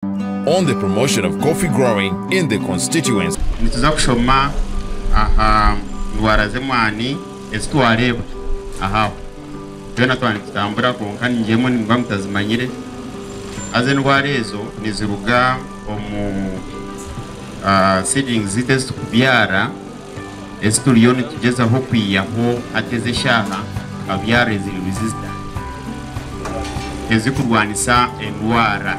on the promotion of coffee growing in the constituency. Nituza kushoma aha ndwara z'emwaani ezi twareebwa aha aho. Twena twaba nitutambura kwonka ningyemwe nimuba mutazimanyire. Haza endwara ezo niziruga omu seedlings zaitu ezi turikubyara. Ezi turiyo nitugyezaho kwihaho hati ezi eshaaha nka byare ziri resistant ezi kurwanisa endwara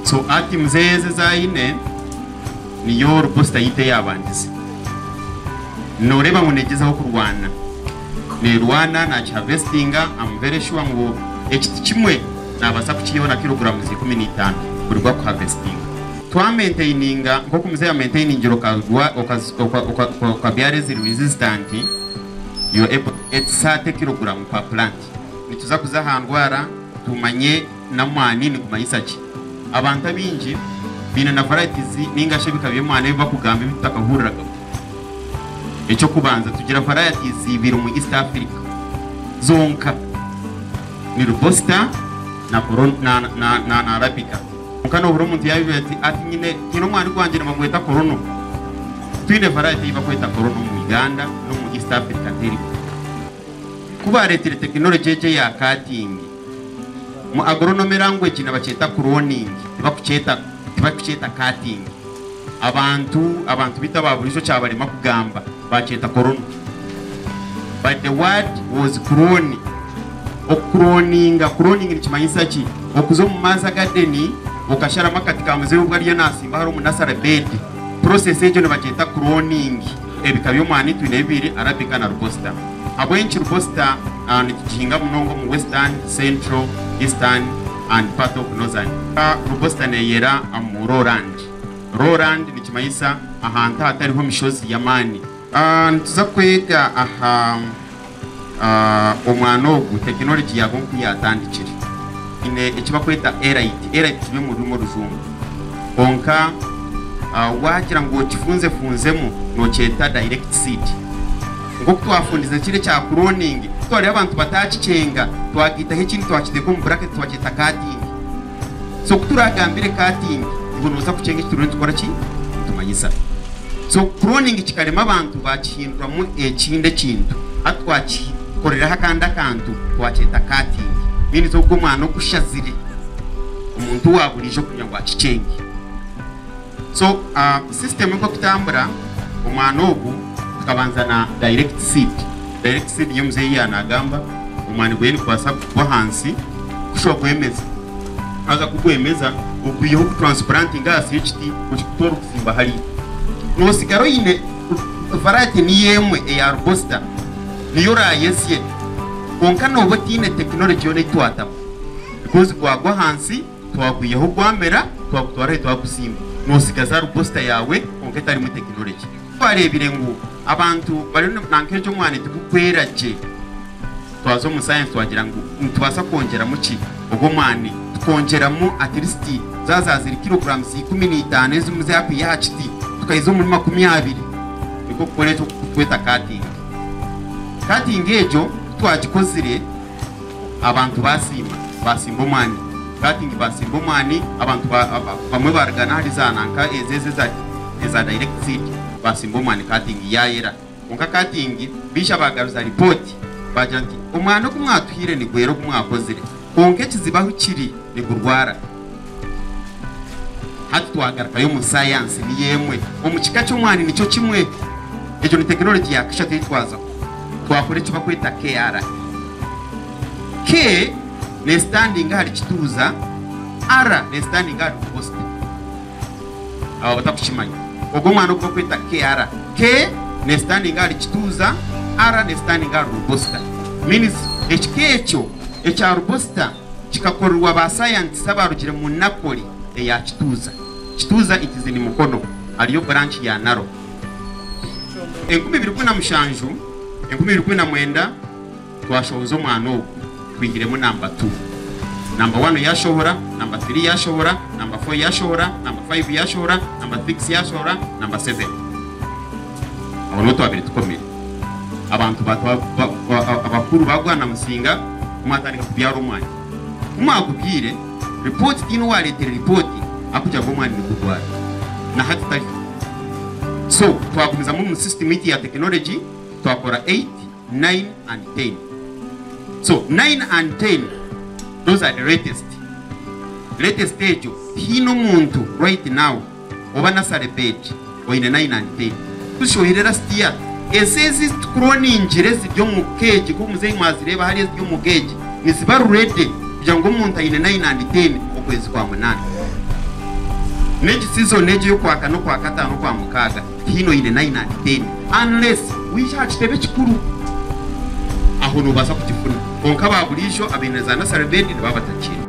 so atoms ezi ezi aine niyo reboster yaitu eyabangize noreeba ngu negyezaho kurwana nerwana nakihavestinga am very sure ngu ekiti kimwe nabasa kukihaho na kilogrames ikumi na itano buri gwakuhavestinga. Twamentayininga nk'oku muzehe amentayiningira okabyara ezirimu rizizitanti, you're able to get thirty kiloguramu per plant. Nituza kuza aha ndwara tumanye n'amwani nigumanyisa ki. Abantu abaingi baine na varieties ninga shi ebika by'emwani ebi bakugamba ebi tutakahuriraga. Eky'okubanza tugira varieties ibiri omu East Africa zonka, ni Robusta na Arabica. Kwonka nohurira omuntu yayobirwa ati ati nyine nyine omwani gwangye nibagweta korono. Twine variety eyi bakweta korono omu Uganda nomu East Africa teriho. Ku baretire technology egi eya cutting, mu agronomy language nibakyeta cloning tibakukyeta tibakukyeta cutting. Abantu abantu beitu aba burijo kyabarema kugamba. Baakyeta Korona. But the word was kuroni. Okukuroninga, kuroninga nikimanyisa ki? Okuza omu maazi agadeni okasharamu akati ka muzehe obu ariyo nasimba hare omu nasare beedi. Process egyo nibagyeta kuroningi. Ebika by'omwani twine bibiri, Arabica na Robusta. Habw'enki Robusta nitugihinga munonga omu Western, Central, Eastern and part of Northern. Robusta neyera omu lowland. Lowland nikimanyisa ahantu ahatariho mishozi y'amaani. Nituza kwega aha omwana ogu tekinologi yaabo nku yaatandikire. Twine eki barikweta Elite. Elite turi omu rurimi orujungu. Kwonka waagira ngu okifunzefunzemu nookyeta direct seed. Nk'oku twafundize kiri ekya cloning, ku twareeba abantu bataakikyenga, twagaitaho ekindi twakiteeka omu buraketi twakyeta cutting. so kuturagambire ka ati ngu nobaasa kukyenga eki turiyo nitukora ki nitumanyisa so cloning kikarema abantu bakihinduramu ekindi ekintu hati twakikoreraho akandi akantu twakyeta cutting means ogu omwana ogushazire omuntu wa burijo kugira ngu akikyenge. So system nkokutambura omwana ogu tukabanza na direct seed direct seed niyo muzeyi ya nagamba omwani gweye nigubasa kugwa ahansi kushwa gwemeza haza kugwemeza okwihaho ku transplanting ahasi yekiti okikuta orikusimba hariya nosigara oyine variety niyo emwe eya rubosita niyo orayesye kwonka noba otine technology yona eyitwatamu because gwagwa ahansi. Twakwihaho gwamera, twakutwara ahi twakusimba, notsigaza ahari booster yaawe kwonka etarimu tekinologye. Twareebire ngu abantu bariyo nanka egyo omwani tigukwera gye, twaza omu sayensi twagira ngu nitubaasa kwongyeramu ki ogwo mwani? Tukongyeramu at least zaaza ziri kiroguramuzi ikumi na itaano ezimwe zaakwiha aha kiti, tukahiza omuri makumi abiri. Nikwo kukora eki oku turikweta cutting. Cutting egyo ku twagikozire, Abantu baasiima, baasimba omwani. Cutting, Baasimba omwani, abantu ba, ba, bamwe baarugana ahari za nanka ezo ezi eza, eza direct seed, baasimba omwani cutting, yaayera. Kwonka cutting baija baagaruza ripooti, baagira nti, Omwani ogu mwatuhaire nigwera ogu mwakozire, kwonka ekizibu ahu kiri nigurwara. Hati twagarukayo omu sayansi, niyo emwe omu kika ky'omwani nikyo kimwe. Egyo ni tekinologi ya kashatu ei twazaho. Twakora eki barikweta KRI. K neesitandinga ahari kituuza, R neesitandinga ahari ovosite. Abo abatarikukimanya, ogwo omwani ogu barikweta KRI. K neesitandinga ahari kituuza, R neesitandinga ahari rubosita. Means ekika ekyo ekya rubosita kikakorerwa baasayantisi abaarugire mu Napoli eya Kituuza. Kituuza it is in Mukono hariyo branch ya Narok. Enkumi ibiri kumi na mushanju, enkumi ibiri kumi na mwenda twashohoza omwana ogu twihiremu namba tu, namba wanu yaashohora, namba tiri yaashohora, namba fo yaashohora, namba fayivu yaashohora, namba sikisi yaashohora, namba seveni. Orwo twabire tukomire, abantu ba abakuru ba Bwana Musinga mwatandika kubyara omwani. Ku mwagubyaire, ripooti tihaine owareetere ripooti arikugira ngu omwani nigugwara. Na hati tari so. Twagumizamu omu sisitimu itwe ya tekinologi twakora eight, nine and ten. So nine and ten those are the latest. Latest egyo tihaine omuntu right now. oba nursery bed oine nine and ten kuhisha ohire last year ensi ezi ezitukuroningira eziri omu cage nkoku muzeyi mwazireeba hariya eziri omu cage niziba ready kugira ngu omuntu aine nine and ten okwezi kwa munana negi season egi eyokwakana okwakatano okwamukaaga tihaine oine nine and ten unless waija aha kitebe ekikuru aho nobaasa kugifuna kwonka ba buriijo abaine za nursery bed nibaba batagiine.